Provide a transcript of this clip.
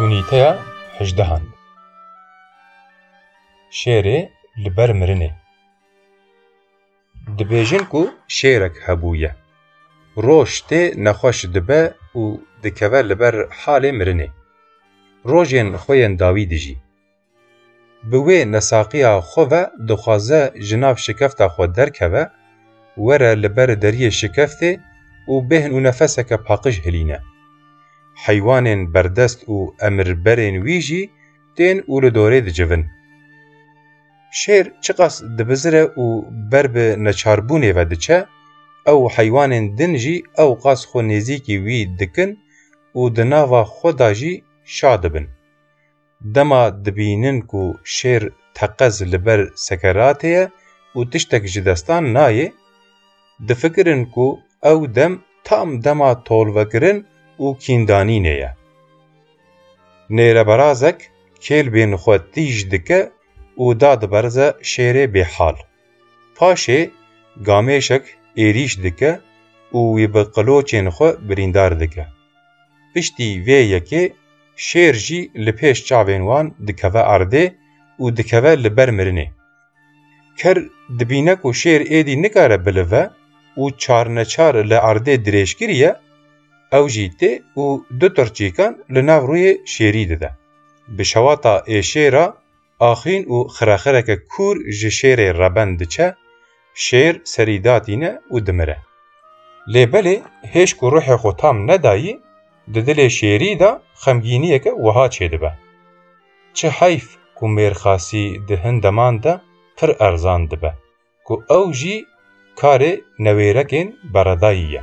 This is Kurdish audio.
Unîteya hejdehan Şêrê li ber mirinê Dibêjin ku şêrek hebûye, roj tê nexweş dibe û dikeve li ber halê mirinê. Rojên xwe yên dawî dijî. Bi wê nesaqiya xwe ve dixwaze ji nav şikefta xwe derkeve, were li ber deriyê şikeftê û bêhn û nefeseke paqij hilîne. Heywanên berdest û emirberên wî jî tên û li dorê dicivin. Şêr çiqas dibizire û ber bi neçarbûnê ve diçe, ew heywanên din jî ew qas xwe nêzîkî wî dikin û di nava xwe de jî şa dibin. Dema dibînin ku şêr teqez li ber sekeratê ye û tiştek ji destan nayê, difikirin ku ew dem tam dema tolvekirin û kîndanînê ye. Nêreberazek kêlbên xwe tîj dike û da diberze şêrê bêhal. Paşê gamêşek êrîş dike û wî bi qiloçên xwe birîndar dike. Piştî vê yekê şêr jî li pêş çavên wan dikeve erdê û dikeve li ber mirinê. Ker dibîne ku şêr êdî nikare bilive û çarneçar li erdê dirêj kiriye, ew jî tê û du tirçîkan li nav rûyê şêrî dide. Bi şewata êşêra Axîn û xirexireke kûr ji şêrê reben diçe, şêr serî datîne û dimire. Lê belê hêj ku ruhê xwe tam nedayî, di dilê şêrî de xemgîniyeke wiha çêdibe, Çi heyf ku mêrxasî di hin deman de pir erzan dibe, ku ew jî karê newêrekên beredayî ye.